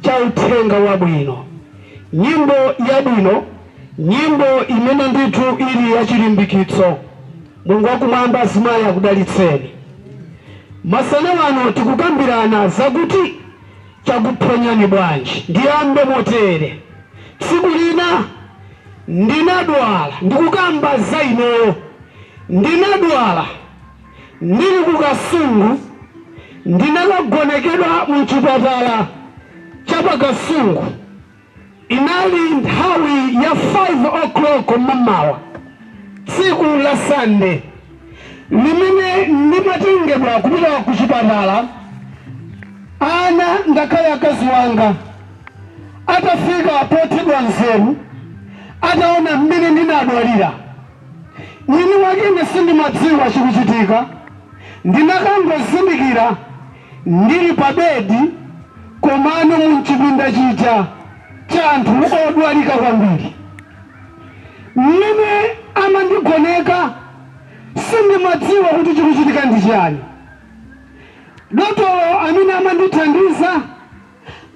cha Uthenga Wabwino. Nyimbo yabwino, nyimbo imene ndithu ili ya chilimbikitso. Mulungu wa Kumwamba, azimayi akudalitseni. Masana wano tikukambirana zakuti Chakuphonyani bwanji? Ndiyambe motere, tsiku lina ndinadwala, ndikukamba za ineyo, ndinadwala. ndili ku Kasungu ndinakagonekedwa mu chipatala cha pa Kasungu. Inali nthawi ya 5 o'clock mamawa tsiku la Sunday limene ndimatengedwa kupita ku chipatala ana ngakhale akazi wanga atafika pothedwa nzeru ataona mmene ndinadwalira. Mwini wake ine sindimadziwa chikuchitika. Ndinakangozindikira ndili pa bedi komano mu mchipinda chija cha anthu odwalika kwambiri. Mmene amandigoneka sindimadziwa kuti chikuchitika ndi chiyani. Dotolo amene amandithandiza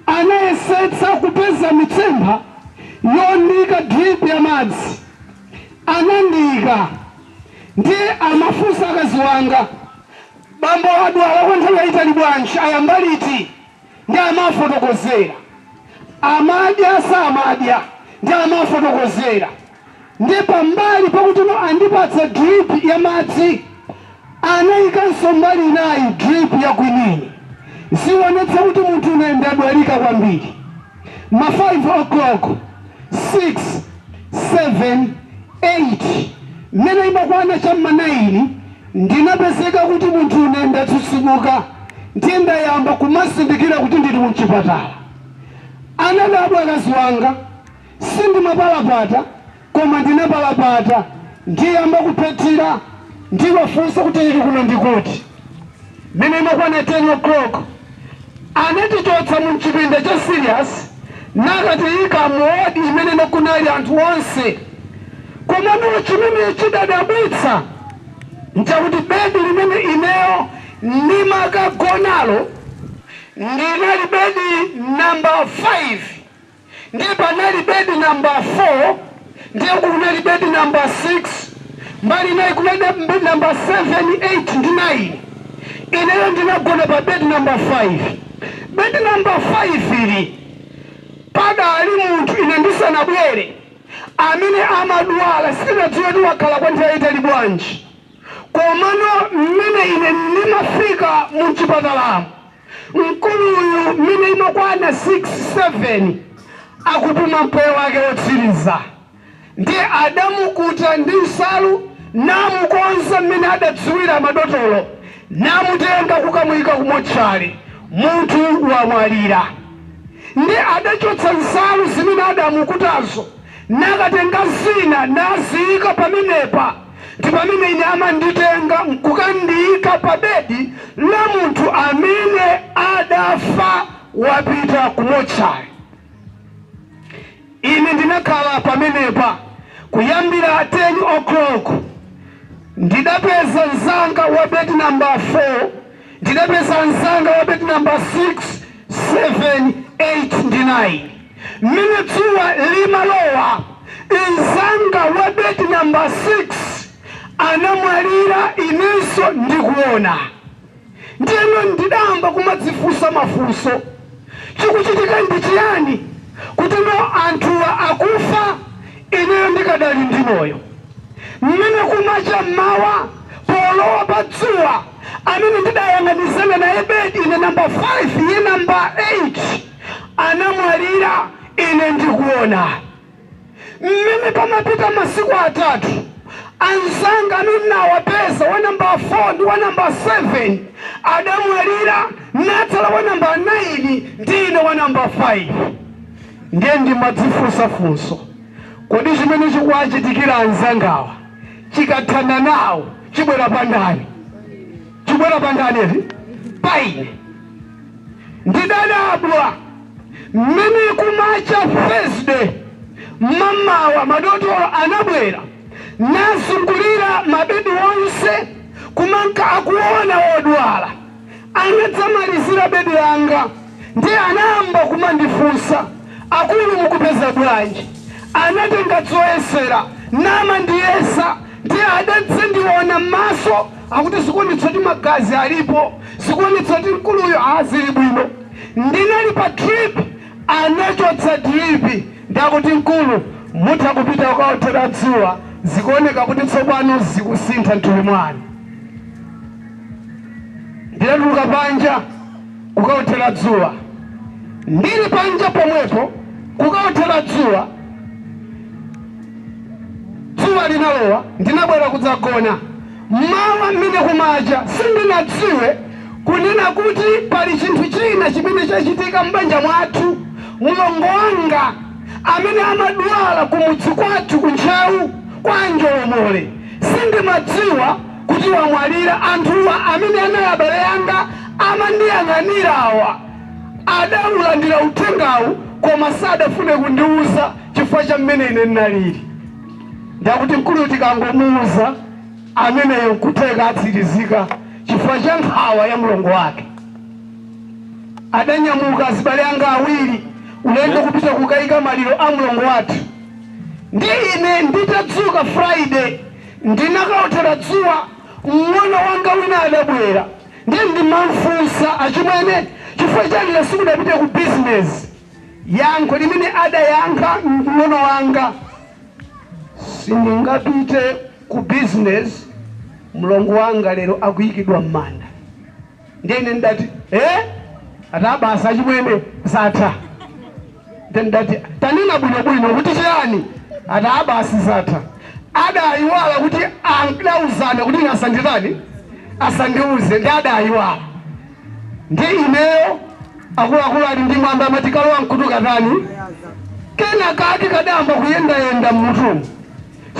Anayesetsa kupeza mitsempha yondiika drip ya madzi. Anandiika. Ndiye amafunsa akazi wanga, Bambo adwala kwa nthawi yaitali bwanji? Ayamba liti? Ndiye amawafotokozera. Amadya, samadya? Ndiye amawafotokozera. Ndiye pambali pakuti andipatsa drip ya madzi, anaikanso mbali inayi drip ya quinine. Zionetsa kuti munthune ndadwalika kwambiri. Ma 5 o'clock, 6, 7, 8, mmene imakwana cha mma 9 ndinapezeka kuti munthune ndatsitsimuka ndiye ndayamba kumazindikira kuti ndili mchipatala. Anadabwa akazi wanga. Sindimapalapata koma ndinapalapata ndayamba kuphethira ndiwafunsa kuti ili kuno ndikuti. Mmene imakwana 10 o'clock anatichotsa mu mchipinda cha serious nakatiyika mu ward imene kunali anthu onse komano chimene chidadabwitsa nchakuti bedi limene ineyo ndimakagonalo ndinali bedi number 5. Ndiye panali bedi namba 4, ndiye uku kunali bedi namba 6, mbali inayi kunali bedi namba 7, 8 ndi 9. Ineyo ndinagona pa bedi namba 5. Bedi namba 5 ili padali munthu ine ndisanabwere amene amadwala. Sindinadziwe kuti wakhala kwa nthawi yayitali bwanji, komano mmene ine ndimafika mu m'chipatalamu, Mkuluyu mmene imakwana 6, 7 akupuma mpweya wake wotsiriza ndiye anamukuta ndi nsalu namukonza mmene adadziwira madotolo namutenga kukamuika ku motchale. Munthu wamwalira nde adachotsa nsalu zimene adamukutazo nakatenga zina naziika pamenepa. ndi pamene ine amanditenga nkukandiika pa bedi la munthu amene adafa, wapita ku motchale. Ine ndinakhala pamenepa kuyambira 10:00 koloko. Ndidapeza mnzanga wa bedi namba 4. Ndidapeza mnzanga wa bedi nambala 6, 7, 8 ndi 9. Mmene dzuwa limalowa, mnzanga wa bedi nambala 6 anamwalira inenso ndikuona. Ndiyeno ndidayamba kumadzifunsa mafunso. Chikuchitika ndi chiyani kuti anthuwa akufa ineyo ndikadali ndi moyo? Mmene kumacha mmawa polowa pa dzuwa. amene ndidayang'anizana naye bedi ine number 5 iye number 8 anamwalira ine ndikuona mmene pamapita masiku atatu anzanga amene ndinawapeza wa number 4 ndi wa number 7 adamwalira natsala wa number 9 ndi ine wa number 5 ndiye ndimadzifunsa funso kodi chimene chikuwachitikira anzangawa chikathana nawo chibwera pa ndani? Chibwera pa ndani eti? Pa ine. Ndidadabwa mmene kumacha Thursday mmamawa madotolo anabwera nazungulira mabedi onse kumanka akuona odwala. anadzamalizira bedi langa ndiye anayamba kumandifunsa akulu mukupeza bwanji anatenga zoyesera namandiyesa ndiye anadzandiona m'maso akuti zikuonetsa kuti magazi alipo zikuonetsa kuti mkuluyu ali bwino ndinali pa drip anachotsa dripi ndiye akuti mkulu mutha kupita kukaothera dzuwa zikuoneka kuti tsopano zikusintha mthupi mwanu Ndinatuluka panja kukaothera dzuwa. Ndili panja pomwepo kukaothera dzuwa, dzuwa linalowa. Ndinabwera kudzagona. M'mawa mmene kumacha, sindinadziwe kunena kuti pali chinthu china chimene chachitika m'banja mwathu. Mlongo wanga amene amadwala kumudzi kwathu ku Ntcheu kwa Njolomole, sindimadziwa. kuti wamwalira. Anthuwa amene anali abale anga amandiyang'anirawa adaulandira uthengawu koma sadafune kundiuza chifukwa cha mmene ine ndinalili. Ndi akuti mkuluyu tikangomuuza ameneyo n'kutheka atsirizika chifukwa cha nkhawa ya mlongo wake. Adanyamuka azibale anga awiri ulendo kupita kukaika maliro a mlongo wathu ndi ine nditadzuka Friday Ndinakaothera dzuwa, mng'ono wanga wina adabwera. Ndiye ndimamfunsa, Achimwene, chifukwa chani simudapite ku bizinezi? Yankho limene adayankha mng'ono wanga, Sindingapite ku bizinezi, mlongo wanga lero akuikidwa m'manda. ndiye ine ndidati ati aa basi achimwene zatha ndiye ndidati tanena bwinobwino kuti chiyani ati aa basi zatha adayiwala kuti anauzana kuti ine asanditani asandiuze ndi adayiwala ndiye ineyo akuluakulu ali ndi mwambi amati kalowa m'khutu katani kena kake kadayamba kuyendayenda mmutumu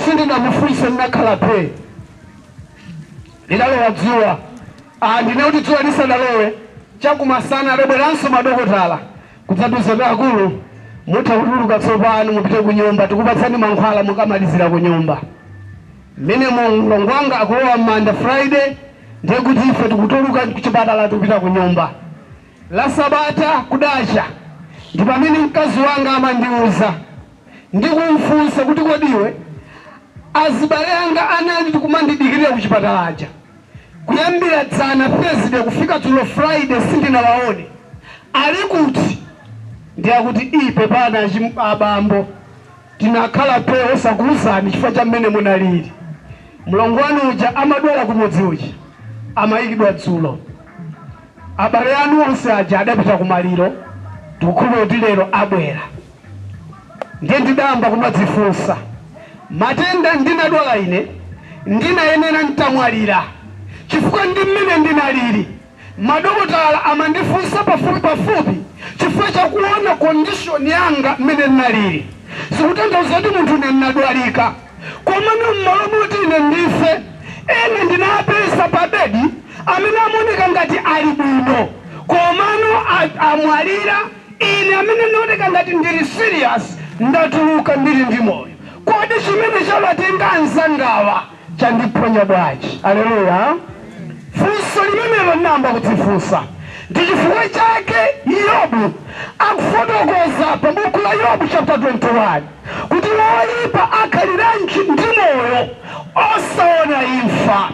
sindinamufunse ndinakhala phee Lidalowa dzuwa. Ndinene kuti dzuwa lisanalowe, chakumasana, adabweranso madokotala kudzatiuza kuti, Akulu, mutha kutuluka tsopano, mupite kunyumba. Tikupatsani mankhwala mukamalizira kunyumba. Mmenemo mlongo wanga akulowa m'manda Friday, ndiye kuti ife tikutuluka kuchipatala tikupita kunyumba. La Sabata kudacha, ndi pamene mkazi wanga amandiuza ndi kumfunsa kuti kodi iwe azibale anga anali kumandidikirira kuchipatala aja kuyambira dzana Thursday kufika dzulo Friday sindinawaone, ali kuti? Ndiye akuti, ii pepani abambo tinakhala phee osakuuzani chifukwa cha mmene munalili. Mlongo wanu uja amadwala kumudzi uja amayikidwa dzulo. Abale anu onse aja adapita kumaliro, tikukhulupirira kuti lero abwera. Ndiye ndidayamba kumadzifunsa, matenda ndinadwala ine ndinayenera n'tamwalira, chifukwa ndi mmene ndinalili. Madokotala amandifunsa pafupipafupi chifukwa cha kuona condition yanga mmene ndinalili. Zikutanthauza kuti munthu ine ndinadwalika. Komano m'malo moti ine ndife, ena ndinapeza pabedi amene amaoneka ngati ali bwino, komano amwalira. Ine amene ndinaoneka ngati ndili serious, ndatuluka ndili ndi moyo. Kodi chimene chawatenga anzangawa chandiphonya bwanji? Aleluya. Funso limenelo ndinayamba kudzifunsa. Ndi chifukwa chake Yobu akufotokoza pa buku la Yobu chapter 21. kuti woipa akhaliranji ndi moyo osaona imfa,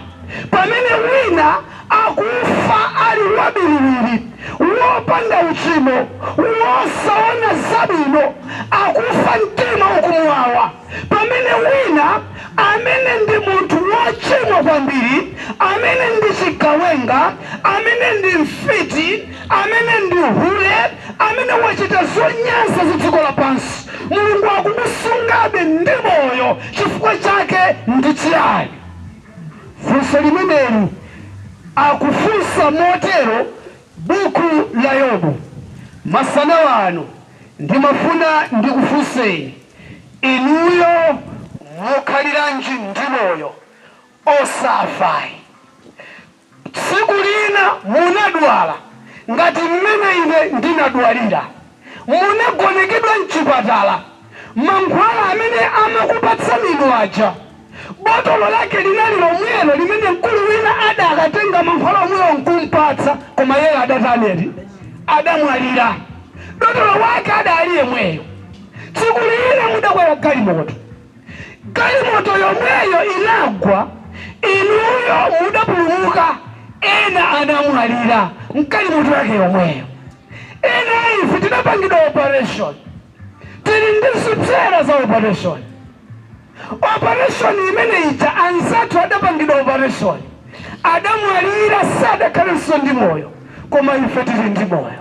pamene wina akufa ali wabiriwiri, wopanda uchimo, wosaona zabwino, akufa mtima ukumuwawa, pamene wina amene ndi munthu wochimwa kwambiri, amene ndi chigawenga, amene ndi mfiti, amene ndi hule, amene wachita zonyansa za dziko lapansi, Mulungu akumusungabe ndi moyo chifukwa chake ndi chiyani? Funso limeneli akufunsa motero buku la Yobu. Masana ano ndimafuna ndikufunseni inuyo mukhaliranji ndi moyo, osafa ayi? Tsiku lina munadwala ngati mmene ine ndinadwalira. Munagonekedwa m'chipatala. Mankhwala amene amakupatsani inu aja, botolo lake linali lomwelo limene mkulu wina adakatenga mankhwala omwewo n'kumpatsa. Koma iyeyo adatani eti? Adamwalira. Dotolo wake adali yemweyo. Tsiku lina mudakwera galimoto. Galimoto yomweyo inagwa, inuyo mudapulumuka, ena anamwalira mgalimoto yake yomweyo. Ena ife tinapangidwa operation, tili ndi zipsera za operation. Operation imene ija anzathu adapangidwa operation, adamwalira, sadakhalenso ndi moyo, koma ife tili ndi moyo.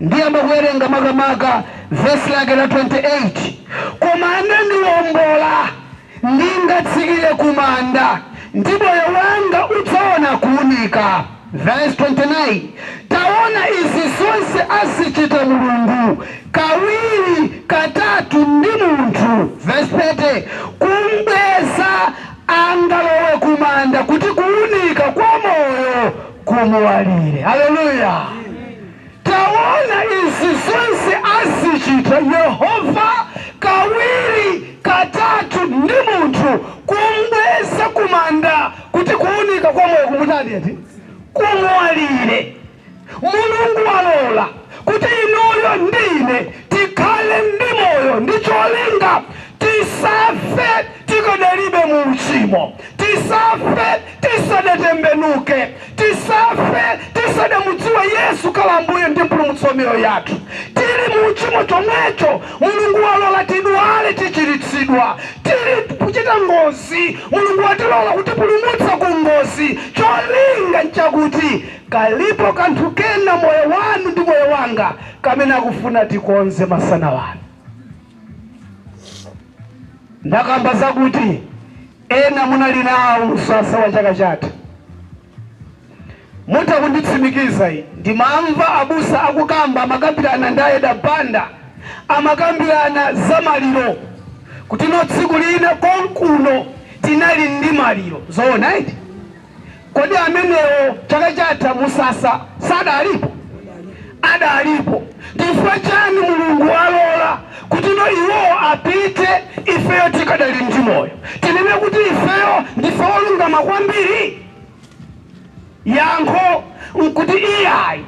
Ndiyamba kuwerenga makamaka vesi lake la 28, Koma anandiwombola, ndingatsikire kumanda, ndi moyo wanga udzaona kuunika. Vesi 29, Taona, izi zonse azichita Mulungu kawiri katatu ndi munthu. Vesi 30, Kumbweza angalowe kumanda, kuti kuunika kwa moyo kumuwalire haleluya taona izi zonse azichita yehova kawiri katatu ndi munthu kumbweza kumanda kuti kuunika kwa moyo kumutani eti kumuwalire mulungu walola kuti inuyo ndi ine tikhale ndi moyo ndi cholinga tisafe tikadalibe mu uchimo tisafe tisadatembenuke tisafe tisadamudziwe yesu kukhala ambuye ndi mpulumutsi wa miyoyo yathu tili mu uchimo chomwecho mulungu walola tidwale tichiritsidwa tili kuchita ngozi mulungu watilola kutipulumutsa ku ngozi cholinga nchakuti kalipo kanthu kena moyo wanu ndi moyo wanga kamene akufuna tikonze masana ano ndakamba zakuti ena munali nawo msasa wa chaka chatha mutha kunditsimikiza eti ndimamva abusa akukamba amakambirana ndi aEda Banda amakambirana za maliro kutino tsiku lina konkuno tinali ndi maliro zoona eti? Kodi amenewo chaka chatha ku msasa sadalipo? Adalipo. Nchifukwa chani Mulungu walola kutino iwowo apite ifeyo tikadali ndi moyo? Tinene kuti ifeyo ndife olungama kwambiri? Yankho nkuti iyayi.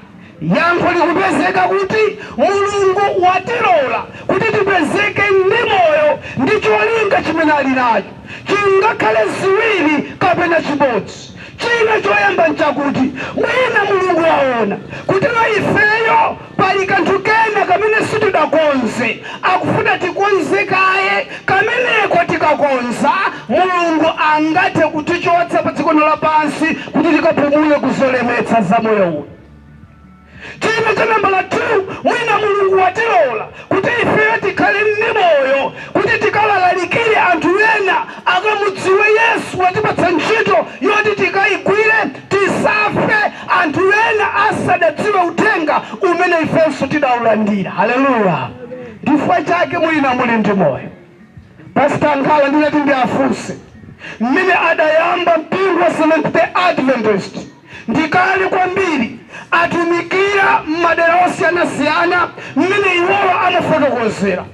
Yankho likupezeka kuti Mulungu watilola kuti tipezeke ndi moyo ndi cholinga chimene ali nacho. Chingakhale ziwiri kapena chimodzi. China choyamba nchakuti mwina Mulungu waona kutino ifeyo pali kanthu kena kamene sitidakonze. Akufuna tikonze kaye. Kameneko tikakonza, Mulungu angathe kutichotsa padzikono lapansi kuti tikapumule ku zolemetsa za moyo uno. China cha nambala 2, mwina Mulungu watilola kuti ifeyo tikhale ndi moyo kuti tikawalalikire anthu ena akamudziwe Yesu. Watipatsa ntchito yoti tikaigwire, tisafe anthu ena asadadziwe uthenga umene ifenso tidaulandira. Haleluya! Chifukwa chake mwina muli ndi moyo. Pastor Nkhala ndinati ndiafunse mmene adayamba mpingo wa Seventh Day Adventist ndi kale kwambiri atumikira mmadera osiyanasiyana mmene iwowa amafotokozera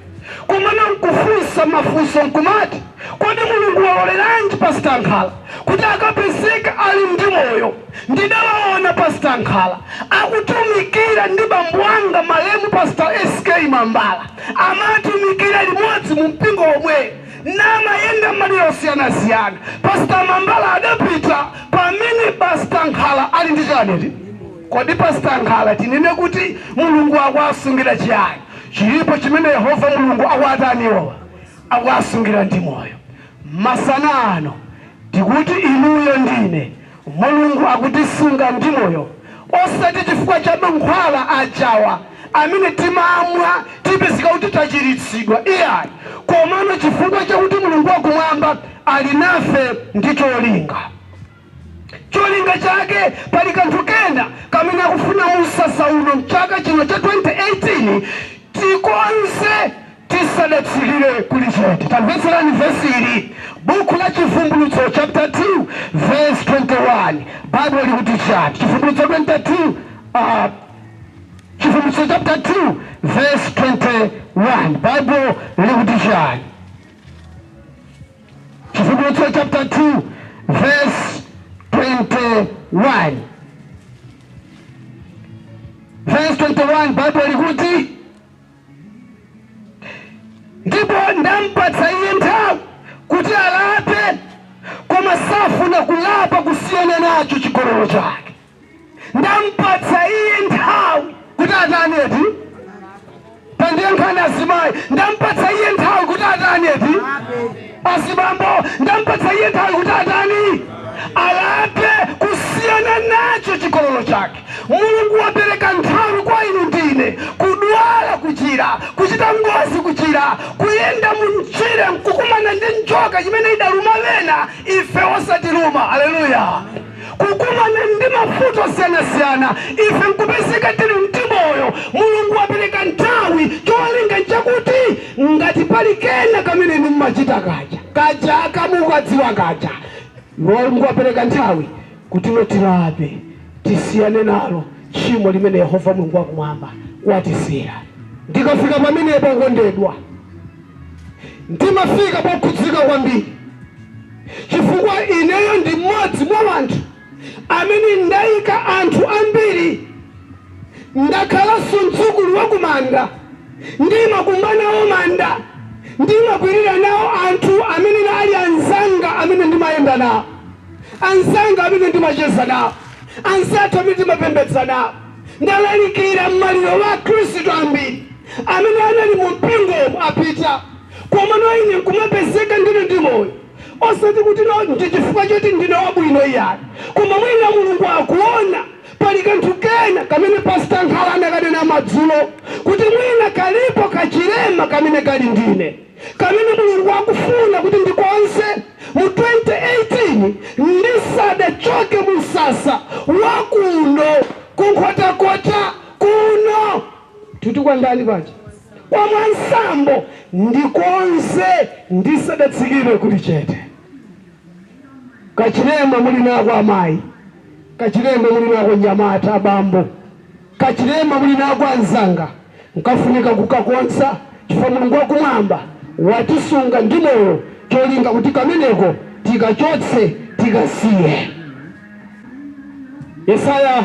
kumano nkufunsa mafunso nkumati kodi Mulungu waloleranji Pastor Nkhala? kuti akapezeke ali ndi moyo. Ndidawaona Pastor Nkhala akutumikira ndi bambo anga malemu Pastor SK Mambala. Amatumikira limodzi mumpingo womwewu namayenda m'madera osiyanasiyana. Pastor Mambala adapita pamene Pastor Nkhala ali ndi chani eti? Kodi Pastor Nkhala tinene kuti Mulungu akuwasungira chiyani? Chilipo chimene Yehova Mulungu akuwatani iwowa? Akuwasungira ndi moyo. Masana ano, tikuti inuyo ndi ine, Mulungu akutisunga ndi moyo osati chifukwa cha mankhwala ajawa amene timamwa tipezeka kuti tachiritsidwa iyayi, komano chifukwa chakuti Mulungu wakumwamba ali nafe ndi cholinga. Cholinga chake, Pali kanthu kena kamene akufuna mu msasa uno mchaka chino cha 2018 tikonze tisadatsikire kulichete. Tamvetserani vesi ili, Buku la Chivumbulutso chaputala 2 vesi 21 Baibulo likuti chiyani? Chivumbulutso 22, uh, Chivumbulutso chaputala 2 vesi 21 Baibulo likuti chiyani? Chivumbulutso chapter 2 verse 21 verse 21 Baibulo likuti ndipo ndampatsa iye nthawi kuti alape koma safuna kulapa kusiyana nacho chigololo chake ndampatsa iye nthawi kuti atani eti tandiyankhani azimayi ndampatsa iye nthawi kuti atani eti azibambo ndampatsa iye nthawi kuti atani alape kusiyana nacho chigololo chake Mulungu wapereka nthawi kwa inu ndi ine kudwala kuchira kuchita ngozi kuchira kuyenda mumchire nkukumana ndi njoka imene idaluma ena ife osatiluma aleluya kukumana ndi mavuto osiyanasiyana ife nkupezeka tili ndi moyo mulungu wapereka nthawi cholinga nchakuti ngati pali kena kamene inu mmachita kaja kaja kamukadziwa kaja mulungu wapereka nthawi kuti poti tilape tisiyane nalo tchimo limene yehova mulungu wakumwamba watisiyira ndikafika pamenepa okondedwa ndimafika pokhudzika kwambiri chifukwa ineyo ndi mmodzi mwa anthu amene ndaika anthu ambiri ndakhalanso mdzukulu wa kumanda ndimakumba nawo manda ndimakwirira nawo anthu amene anali anzanga amene ndimayenda nawo anzanga amene ndimacheza nawo anzathu amene ndimapembedza nawo ndalalikira mmaliro wa akhristu ambiri amene anali mu mpingo apita Komano ine nkumapezeka ndiri ndi moyo, osati kuti, oh, ndi chifukwa choti ndine wabwino, iyayi, koma mwina Mulungu akuwona pali kanthu kena kamene Pastor Nkhala anakanena madzulo, kuti mwina kalipo kachilema kamene kali ndi ine, kamene Mulungu akufuna kuti ndikonze mu 2018 ndisadachoke mu msasa wa kuno ku Nkhotakota kuno. Mutu kwa ndani paja? kwa mwansambo ndikonze ndisadatsikire kuli chete kachilema muli nako amayi kachilema muli nako nyamata abambo kachilema muli nako anzanga nkafunika kukakonza chifukwa mulungu wakumwamba watisunga ndi moyo cholinga kuti kameneko tikachotse tikasiye yesaya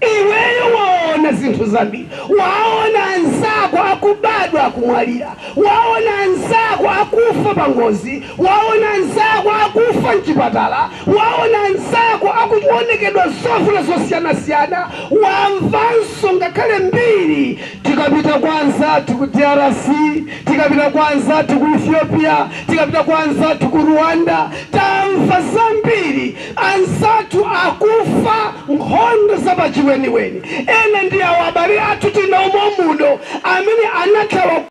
Iweyo waona zinthu zambiri. Waona anzako akubadwa akumwalira. Waona anzako akufa pangozi. Waona anzako akufa m'chipatala. Waona anzako akuonekedwa zovuta zosiyanasiyana. Wamvanso ngakhale mbiri. Tikapita kwa anzathu ku drc, tikapita kwa anzathu ku Ethiopia, tikapita kwa anzathu ku Rwanda, tamva zambiri. Anzathu akufa nkhondo za pachiweniweni. Ena ndi awo abale athu tili nawo mommuno amene anathawa ku.